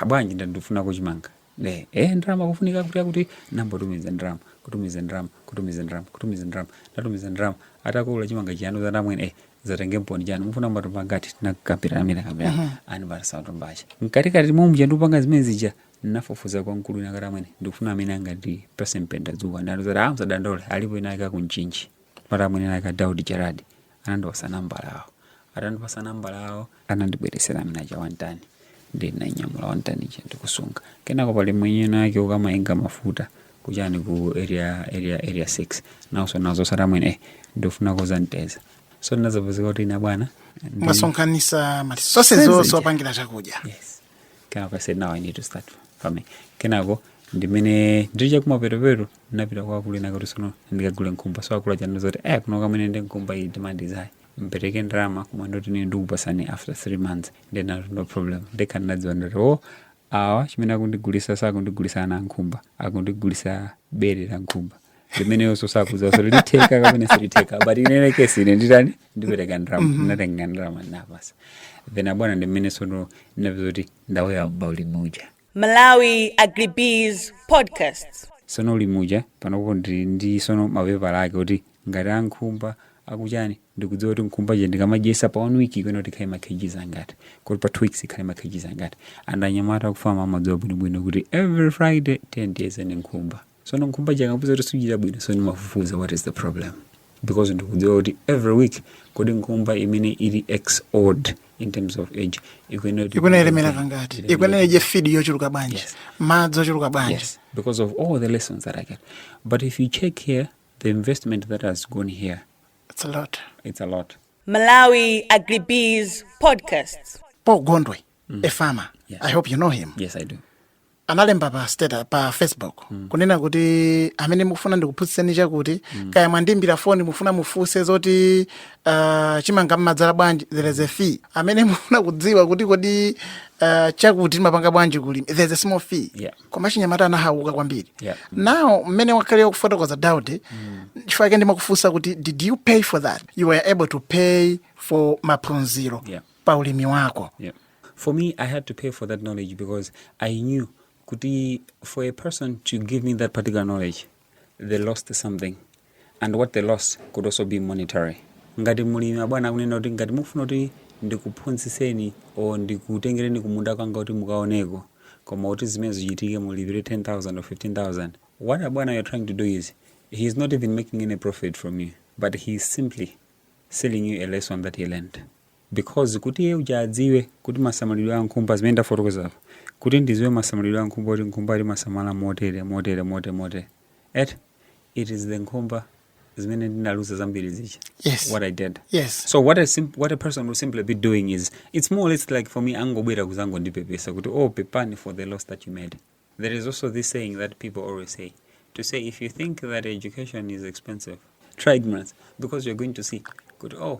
ah bwanji ndandifunako chimanga ne eh ndalama kufunika kuti kuti nambotumiza ndalama kutumiza ndalama kutumiza ndalama kutumiza ndalama ndatumiza ndalama atagula chimanga chija anandiuza amwene eh zatenge mponi chanu mufuna matumba ngati nakapira amene kapira uh -huh. anandipasa matumba aja mkatikati mwa muja ndupanga zimene zija nafufuza kwa mkulu wina kuti amwene ndikufuna amene angandipase mpendadzuwa anandiuza kuti ah musadandaule alipo ena ake ku mchinji mara mwene aka Daudi Gerard anandipasa nambala awo atandipasa nambala awo anandibweresera amene aja one ton ndinanyamula one ton ija ndikusunga kenako pali mwenye wina wake amayenga mafuta kuchani ku area area area 6 nawonso nazo satamwene eh, ndifunako za nteza so ndinazapezeka kuti ine bwana ndi- ndasonkhanisa mali zonse zonse Zonse. zopangira chakudya yes kenako I said now I need to start farming kenako ndimene ndiri chakumapetopeto ndinapita kwa akulu ena kuti sono ndikagule nkhumba so akulu aja anandiuza kuti eh kunoko amwene ndi nkhumba iyi demand is high mpereke ndalama koma ndoti ine ndikupasani after three months then I have no problem ndekha ndinadziwa ndoti o awa chimene akundigulisa sakundigulisa ana a nkhumba akundigulisa bere la nkhumba limene iyeyonso sakudziwa zoti litheka kapena silitheka but in any case ine nditani ndipereka ndrama ndinatenga ndrama napasa then abwana ndi mmene sono ndinapeza kuti ndauyamba ulimi uja Malawi Agribiz Podcast. sono ulimi uja panopo ndi ndi sono mapepala ake kuti ngati ankhumba akuchani ndikudziwa kuti nkhumba ija ndikamadyesa pa one week ikuyenera kuti ikhale makgs angati kuti pa two weeks ikhale makgs angati and anyamata aku farm amadziwa bwinobwino kuti every friday tiyeni tiyeze nkhumba sono nkhumba ija ndikapeza kuti sikuchita bwino so ndimafufuza what is the problem because ndikudziwa kuti every week kodi nkhumba imene ili x old in terms of age ikuyenera kuti- ikuyenera ilemere kangati Ilemera- ikuyenera idye feed yochuluka bwanji Yes. madzi ochuluka bwanji Yes, because of all the lessons that I get. But if you check here, the investment that has gone here, It's a lot. it's a lot. Malawi Agribiz Podcast. paul gondwe a farmer Yes. i hope you know him Yes, I do. analemba pa status pa facebook kunena kuti amene mukufuna ndikuphunzitseni chakuti kaya mwandiimbira foni mufuna mufunse zoti uh, chimanga mmadzala bwanji there is a fee amene mufuna kudziwa kuti kodi uh, chakuti timapanga bwanji kulima there is a small fee Yeah. koma achinyamata anahauka kwambiri Yeah. now mmene wakhalira kufotokoza Daud chifukwa chake ndimakufunsa kuti did you pay for that you were able to pay for maphunziro Yeah. pa ulimi wako. Yeah. For me, I had to pay for that knowledge because I knew kuti for a person to give me that particular knowledge, they lost something. And what they lost could also be monetary. Ngati mulimi abwana akunena kuti ngati mufuna kuti ndikuphunzitseni or ndikutengereni kumunda kwanga kuti mukaoneko koma kuti zimenezo zichitike mulipire 10000 or 15000 what abwana you're trying to do is he is not even making any profit from you but he is simply selling you a lesson that he learned because kuti iye uja adziwe kuti masamalidwe a nkhumba zimene ndafotokoza apa kuti ndiziwe masamalidwe a nkhumba kuti nkhumba timasamala motere motere motere motere et it is the nkhumba zimene ndinaluza zambiri zija Yes. what i did Yes. so what a, sim what a person will simply be doing is it's more or less like for me angobwera kuzangondipepesa kuti oh pepani for the loss that you made there is also this saying that people always say to say if you think that education is expensive try ignorance because you're going to see kuti oh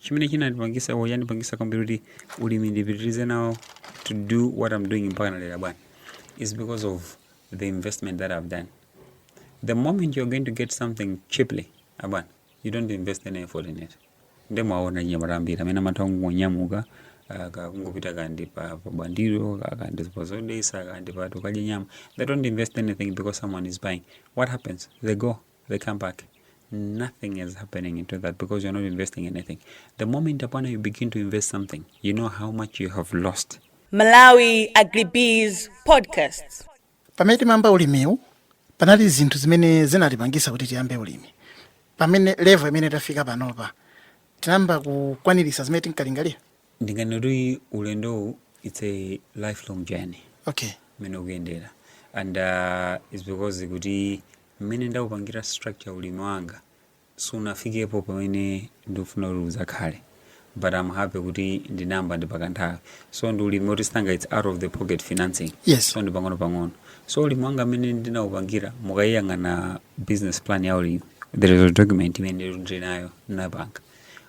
chimene chinandipangisa or yandipangisa kwambiri kuti ulimi ndipitirize nawo to do what i'm doing mpakana lero abwana is because of the investment that i've done the moment you're going to get something cheaply abwana you don't invest any effort in it nde mwaona anyamata ambiri amene amatha kungonyamuka ah, ka- kungopita kandi pa pa bwandilo ka- kandi pa zodetsa kandi pa tikadye nyama they don't invest anything because someone is buying what happens they go they come back nothing is happening into that because you're not investing anything the moment upon you begin to invest something you know how much you have lost Malawi Agribees Podcast. pamene timayamba ulimiwu panali zinthu zimene zinatipangisa kuti tiyambe ulimi pamene level imene tafika panopa tinayamba kukwaniritsa zimene tinkalingalira ndinganene kuti ulendowu its a lifelong journey okay mmene ukuyendera and uh, is because kuti mmene ndaupangira structure ulimi wanga sunafikepo pamene ndikufuna kuti udzakhale but am happy kuti ndinayamba ndi pakanthawi so ndi ulimi oti sitinga its out of the pocket financing Yes. so ndi pang'ono pang'ono so ulimi wanga mmene ndinaupangira mukayang'ana business plan ya ulimi there is a document imene ndili nayo ndinapanga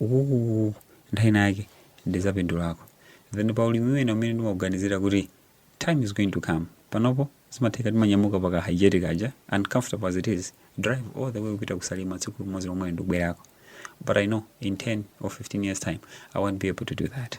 ukuku nthawi ina yake ndizapindulako then pa ulimi wina umene ndimauganizira kuti time is going to come panopo zimatheka timanyamuka paka hygienic aja uncomfortable as it is drive all the way kupita ku Salima tsiku limodzi lomwe ndikubwerako but i know in 10 or 15 years time i won't be able to do that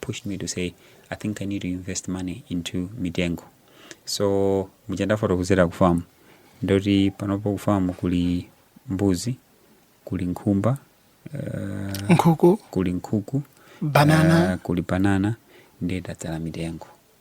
pushed me to say i think i need to invest money into mitengo so muja ndafotokozera ku farm ndoti panopo ku farm kuli mbuzi kuli nkhumba nkhuku kuli nkhuku banana uh, kuli banana ndiye tadzala mitengo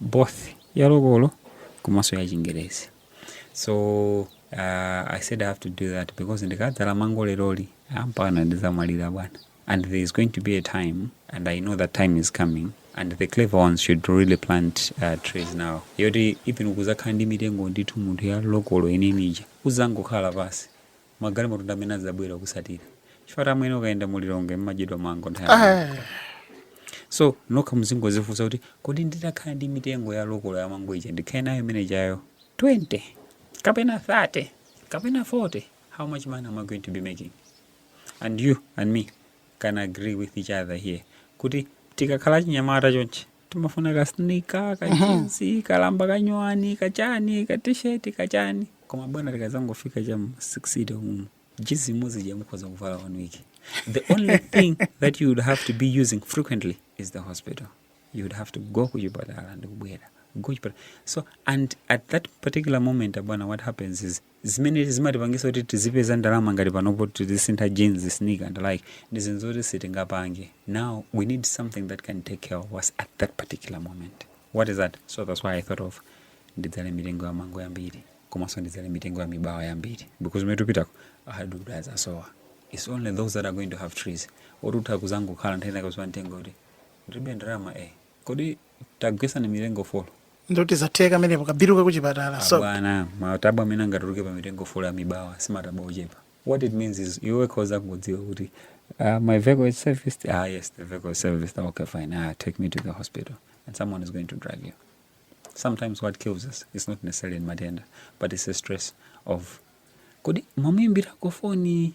both ya lokolo komanso ya Chingerezi so uh, i said i have to do that because ndikadzala mango leroli mpakana ndizamwalira bwana and there is going to be a time and i know that time is coming and the clever ones should really plant uh, trees now yoti even ukazakhala ndi mitengo ndithu munthu ya lokolo imene ija uzangokhala pansi magalimoto ndi amene adzabwera kukutsatira chifukwatu amwene ukayenda mu Lilongwe mumadyedwa mango nthawi yambiri. Ah, so nokha muzingodzifunsa kuti kodi nditakhala ndi mitengo ya lokolo ya mango ija ndikhale nayo imeneijayo 20 kapena 30 kapena 40 how much money am i going to be making and you and me can agree with each other here kuti tikakhala chinyamata chonchi timafuna ka sneaker ka jinsi ka lamba kanyuwani kachani ka t-shirt kachani koma bwana tikazangofika cha mu sikisite umu jinsi imodzi ija mukhoza kuvala one week the only thing that you would have to be using frequently is the hospital you would have to go kuchipatala ndikubwera go kuchipatala so and at that particular moment abwana what happens is zimene zimatipangisa kuti tizipeza ndalama ngati panopo tizisintha jeans sneaker and like ndi zinthu zoti sitingapange now we need something that can take care of us at that particular moment what is that so that's why i thought of ndidzale mitengo ya mango yambiri komanso ndidzale mitengo ya mibawa yambiri because kumene tikupitako hardwood azasowa it's only those that are going to have trees oti utha kuzangokhala nkutenga kudziwa mtengo kuti ndilibe ndalama eh kodi tagwesani mitengo folo ndoti zatheka amenepo ka bilu kakuchipatala so abwana matabwa amene angatuluke pa mitengo folo ya mibawa si matabwa ochepa what it means is iwe khoza kudziwa kuti uh, my vehicle is serviced ah yes the vehicle is serviced Ah, okay fine ah take me to the hospital and someone is going to drive you sometimes what kills us is not necessarily ndi matenda but it's the stress of kodi mwamuimbirako foni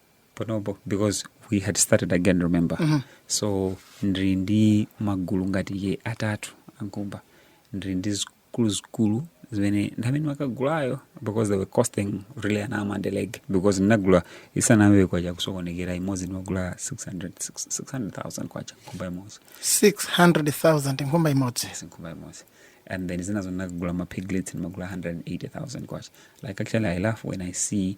panopo because we had started again remember mm -hmm. so ndiri ndi magulu ngati atatu a nkhumba ndiri ndi zikulu zikulu zimene ndi zimene ndimakagulazo because they were costing really an arm and a leg because ndinagula isanayambe kwacha kusokonekera imodzi ndimagula 600000 kwacha nkhumba imodzi 600000 nkhumba imodzi yes, nkhumba imodzi and then zinazo ndinagula mapiglets ndimagula 180000 kwacha like actually i laugh when i see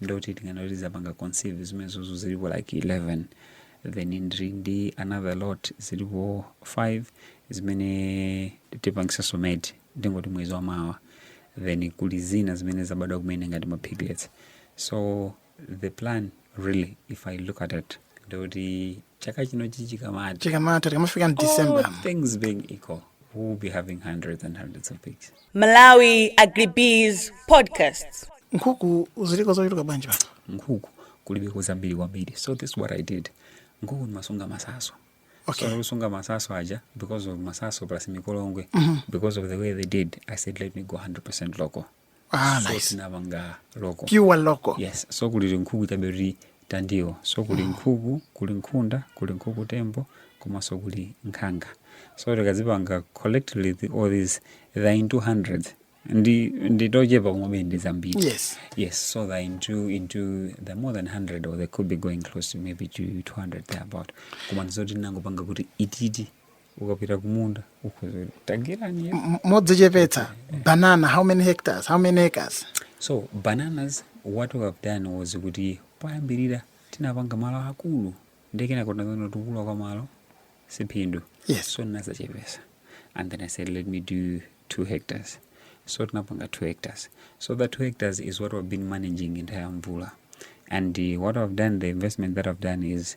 ndoti tinganene kuti zapanga conceive zimenezozo zilipo like 11 then ndiri ndi another lot zilipo 5 zimene tipangisa inseminate ndingoti mwezi wa mawa then kuli zina zimene zabadwa kumene ngati ma piglets so the plan really if i look at it ndoti chaka chino chikamatha chikamatha tikamafika mu december All things being equal we will be having hundreds and hundreds of pigs Malawi Agribusiness Podcast. nkhuku ziliko zochuluka bwanji pano nkhuku kulibeko zambiri kwambiri so this is what i did nkhuku ndimasunga masaso Okay. so kusunga masaso aja because of masaso plus mikolongwe because of the way they did i said let me go 100 local Ah, so nice. tinapanga local Pure local. yes so kuli nkhuku chabe kuti tandiwo so kuli nkhuku kuli nkhunda kuli nkhuku tembo komanso kuli nkhanga so tikazipanga collectively the, all these they're into hundreds ndi tochepa koma ndi zambiri Yes. yes so they're into into they're more than 100 or they could be going close to maybe to 200 there about koma ndizoti tinangopanga kuti ititi ukapita kumunda ukhoza kuti tagwirani ya M- modzichepetsa banana how many hectares how many acres so bananas what we have done was kuti poyambirira tinapanga malo akulu ndi kenako tinadzaona kuti kukula kwa malo siphindu Yes. so ndinadzachepetsa and then i said let me do two hectares so tinapanga two hectares so that two hectares is what we've been managing entire mvula and uh, what i've done the investment that i've done is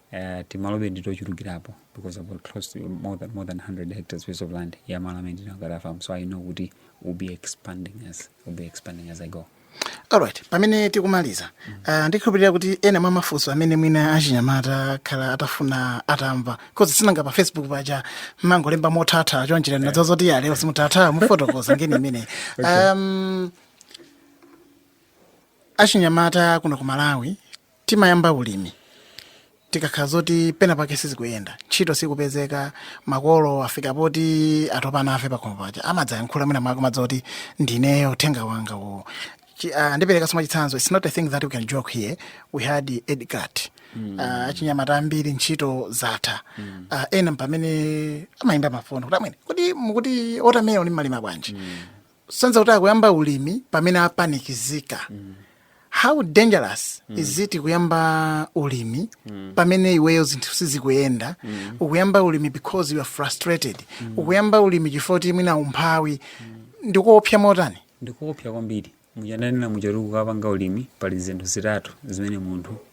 Uh, timaloto nditochulukirapo because I've got close to more than, more than 100 hectares piece of land ya malo amene ndinagula farm so I know kuti we'll be expanding as we'll be expanding as I go alright pamene tikumaliza mm -hmm. uh, ndikhulupirira kuti ena mwa mafunso amene mwina achinyamata akhala atafuna atamva because sinanga pa facebook paja mmangolemba mothaitha choncho yeah. nanga zoti ya lero simuthaitha mufotokoza ngini imene okay. um, achinyamata kuno ku malawi timayamba ulimi tikakhala zoti pena pake sizikuyenda ntchito sikupezeka makolo afika poti atopa nafe pakhomo paja amadzayankhula mwina mwamva zoti ndineyo uthenga wanga uwo Chi- ah, ndipereka chitsanzo its not a thing that we can joke here we had Edgar mm. uh, achinyamata ambiri ntchito zatha mm. uh, ena m'pamene amayimba mafoni kuti amwene kuti mukuti tomatoyo mumalima bwanji mm. sanza kuti akuyamba ulimi pamene apanikizika how dangerous is it kuyamba ulimi pamene iweyo zinthu sizikuyenda ukuyamba ulimi because you are frustrated ukuyamba ulimi chifukwa kuti mwina umphawi ndikuopsa motani ndikuopsa kwambiri m'chifukwa ndanena muja kuti ukapanga ulimi pali zinthu zitatu zimene munthu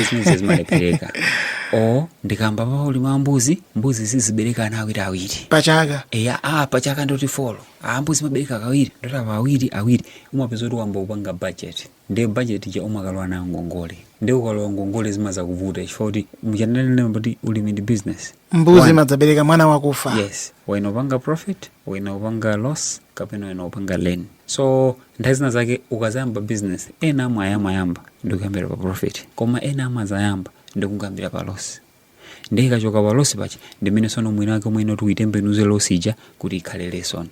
izinso zimalephereka o ndikayamba ulimi wa mbuzi mbuzi zizibereka ana awiri awiri pachaka eya a pachaka ndiye kuti folo a mbuzi imabereka kawiri ndiye kuti apa awiri awiri umapeza kuti wayamba kupanga budget ndiye budget ija umakalowa nayo ngongole ndiye ukalowa ngongole zimadzakuvuta chifukwa kuti muja ndanena kuti ulimi ndi business mbuzi imadzabereka mwana wakufa yes ena upanga profit ena upanga loss kapena ena upanga gain so nthawi zina zake ukadzayamba business ena amayamba ndikuyambira pa profit koma ena amadzayamba ndikungoyambira pa loss ndiye ikachoka pa loss paja ndi mmene sono mwina wake mwina kuti uyitembenuze loss ija kuti ikhale lesson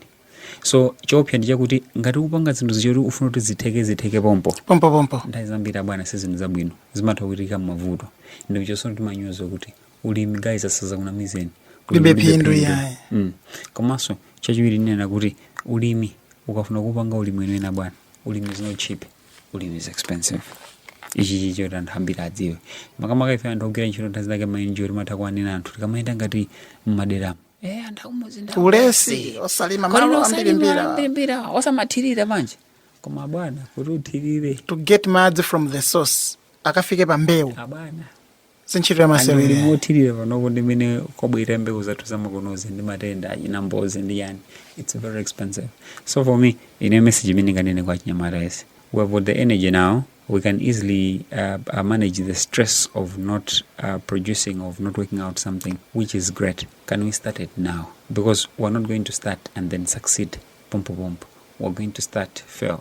so choopsa ndi chakuti ngati ukupanga zinthu zoti ufuna kuti zitheke zitheke pompo pompopompo nthawi zambiri abwana si zinthu zabwino zimatha kuchitika mavuto ndiye choncho timawauza kuti ulimi guys asadzakunamizeni Kulibe phindu yaye. mm. komanso chachiwiri ndinena kuti ulimi ukafuna kupanga ulimi wanena bwana ulimi is not cheap ulimi is expensive ichi ndicho anthu ambiri adziwe makamaka ife anthu ogwira ntchito nthawi zake mayinji kuti timatha kuwanena anthu tikamayenda ngati mmaderamu eh anthu akumudzi ndi ulesi osalima Kodi malo osalima ambirimbiri ambirimbiri osamathirira manje koma bwana kuti uthirire to get madzi from the source akafike pa mbewu abwana si ntchito ya masewera imeneyi. kuthirira panopo ndi mmene kwabwerera mbewu zathu zamakonozi ndi matenda achina mbozi ndi yani its very expensive so for me ine message imene ndinganene kwa achinyamata onse we have got the energy now we can easily uh, uh, manage the stress of not uh, producing of not working out something which is great can we start it now because we're not going to start and then succeed pompo pompo we're going to start fail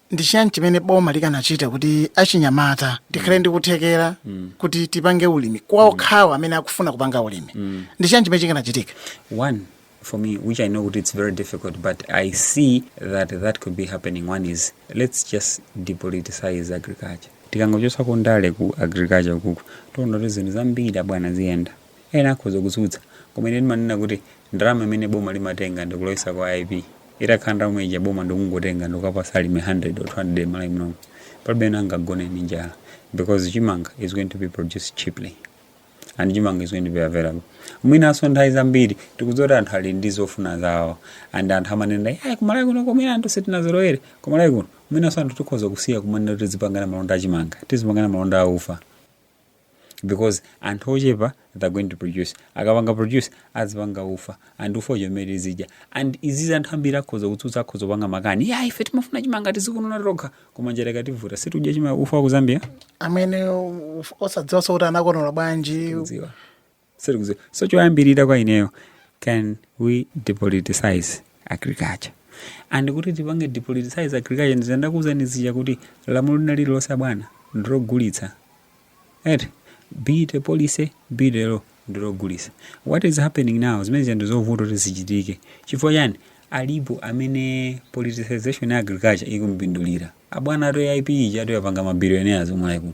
ndi chiyani chimene boma likanachita kuti achinyamata tikhale ndi kuthekera kuti tipange ulimi kwa okhawo amene akufuna kupanga ulimi ndi chiyani chimene chikanachitika One, for me, which I know it's very difficult, but I see that that could be happening. One is let's just depoliticize agriculture. tikangochotsa kundale ku agriculture kuku tiona kuti zinthu zambiri abwana ziyenda Ena akhoza kutsutsa, koma ine ndimanena kuti ndalama imene boma limatenga ndikulowesa kwa AIP, itakhala ndalama ija boma ndikungotenga ndikukapasa alimi 100 or 200 m'Malawi munomu, palibe amene angagone ndi njala because chimanga is going to be produced cheaply and chimanga is going to be available. Mwinanso nthawi zambiri tikudziwa kuti anthu ali ndi zofuna zawo and anthu amanena kuti kumalawi kuno koma anthu sitinazolowere, kumalawi kuno mwinanso anthu tikhoza kusiya kumanena kuti tizipangana malonda a chimanga, tizipangana malonda a ufa, because anthu ochepa they're going to produce akapanga produce azipanga ufa and ufa uja omwe tizidya and izizi anthu ambiri akhoza kutsutsa akhoza kupanga makani ya ife timafuna chimanga tizikonola tokha koma njala ikativuta situdya chima ufa wa ku zambia amene uf- osadziwanso kuti anakonola bwanji kudziwa sitikuziwa so choyambirira kwa ineyo can we depoliticize agriculture and kuti tipange depoliticize agriculture ndizo ndakuuzani zija kuti lamulo lina lililonse abwana ndilogulitsa eti be it a policy be it a law ndilogulitsa what is happening now zimene zija ndizovuta kuti zichitike chifukwa chani alipo amene politicization ya agriculture ikumpindulira abwana atu aip ijatu yapanga mabilionaires omwe ayi kuno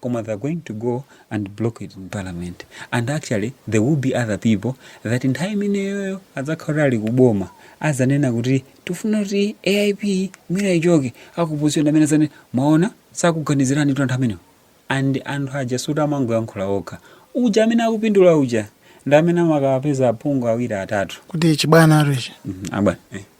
koma they're going to go and block it in parliament and actually there will be other people that nthawi imeneyoyo adzakhala kuti ali kuboma azanena kuti tifuna kuti aip mwina ichoke aku opposition amene azanene mwaona sakuganizirani kuti anthu amenewo and anthu aja sikuti amangoyankhula okha uja amene akupindula uja ndi amene amakapeza aphungu awiri atatu kuti chibwana chatuchi Mhm, abwana eh.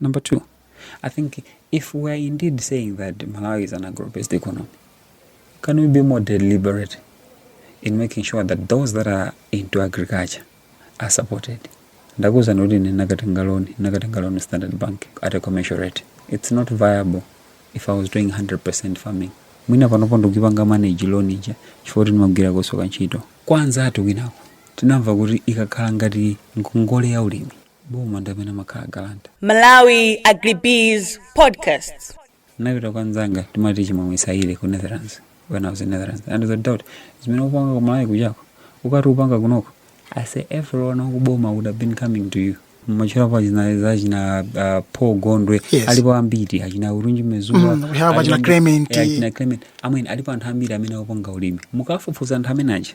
Number two, I think if we are indeed saying that Malawi is an agro-based economy, can we be more deliberate in making sure that those that are into agriculture are supported? ndakuuzani kuti ndinakatenga loan ndinakatenga loan standard bank at a commercial rate it's not viable if i was doing 100% farming mwina panopo ndikupanga manage loan ija chifukwa kuti ndimagwira kusukulu ntchito kwa anzathu kwinako tinamva kuti ikakhala ngati ngongole ya ulimi boma ndi amene amakhala guarantor Malawi Agribiz Podcasts. ndinapita kwa nzanga timati chimwemwe saile ku netherlands when i was in netherlands anandiuza kuti zimene upanga ku malawi kujako ukadati upanga kunoko i say everyone kuboma would have been coming to you machirapo achina za achina uh, paul gondwe Yes. alipo ambiri achina urunji mezuwa Mm, we have achina Clement. achina clement amene alipo anthu ambiri amene akupanga ulimi mukafufuza anthu amene aja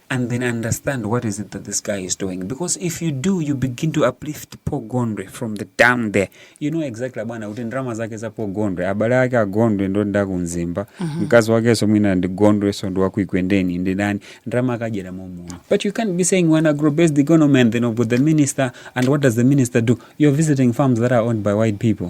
and then understand what is it that this guy is doing because if you do you begin to uplift Paul Gondwe from the down there you know exactly bwana kuti ndalama zake za Paul Gondwe abale ake a Gondwe ndi ndani ku Mzimba mm -hmm. mkazi wakenso mwina ndi Gondwenso ndi waku Ekwendeni ndi ndani ndalama akadyera momo but you can't be saying we're an agro based economy and then you have the minister and what does the minister do you're visiting farms that are owned by white people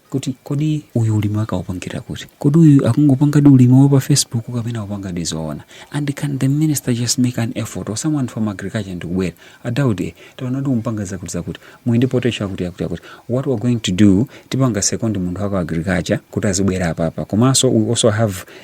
kuti kodi uyu ulimi wake akupangira kuti kodi uyu akungopangadi ulimi wa pa facebook kapena akupangadi zoona and can the minister just make an effort or someone from agriculture ndikubwera a Daud eh, taona kuti mukupanga zakuti zakuti muli ndi potential wakuti wakuti wakuti what we're going to do tipanga second munthu wa ku agriculture kuti azibwera apapa komanso we also have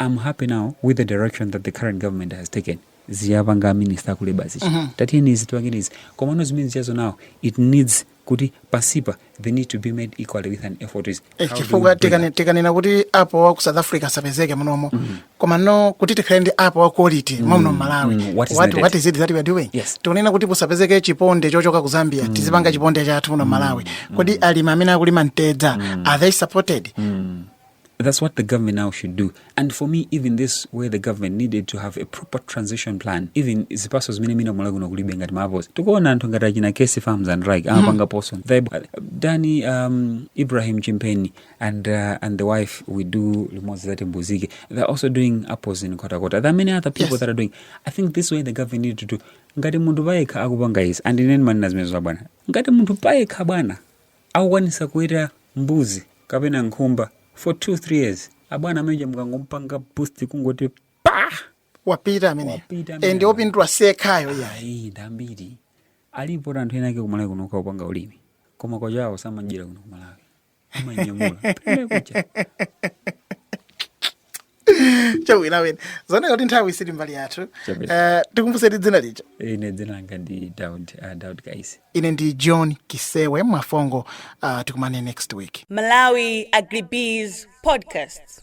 I'm happy now with the direction that the current government has taken zija apanga a minister a ku labor zija uh -huh. tatiyeni izi tipange izi komano zimene zijazo now it needs kuti pansipa they need to be met equally with an effort is eh, chifukwa tikanena kuti apo wa ku south africa asapezeke munomo mm -hmm. komano kuti tikhale ndi apo wa quality mm -hmm. wa muno mmalawi mm -hmm. what, what, what is it that we are doing yes. tikunena kuti pasapezeke chiponde chochoka ku zambia mm -hmm. tizipanga chiponde chathu muno mmalawi mm -hmm. kodi alimi amene akulima mtedza mm -hmm. are they supported mm -hmm. That's what the government now should do. And for me, even this where the government needed to have a proper transition plan, even zipatso zimene mwina ku Malawi kuno kulibe ngati mavozi. Tikuona anthu ngati achina Kaisi Farms and Rike mm-hmm. amapanga poso. Danny um, Ibrahim Chimpheni and uh, and the wife we do limodzi zati mbuzike. They're also doing apples in Nkhotakota. There are many other people yes. that are doing. I think this way the government needed to do. Ngati munthu payekha akupanga izi and ine ndimanena zimenezo bwana. Ngati munthu payekha bwana akukwanitsa kuweta mbuzi kapena nkhumba for two three years abwana ameneja mukangomupanga boost kungoti paa wapita amene Wapita amene. and opindula si yekhayo ya ayi ndambiri alipo anthu ena ake kumalawi kuno akupanga ulimi koma katchowa samadyera kuno kumalawi amanyamula kupita kunja. chabwino bwana zaoneka kuti nthawi sili mbali yathu Chabwino. uh, tikumbuseni dzina lija ine dzina langa ndi daud uh, daud kaisi ine ndi john kisewe mwafongo uh, tikumane next week Malawi Agribiz Podcast.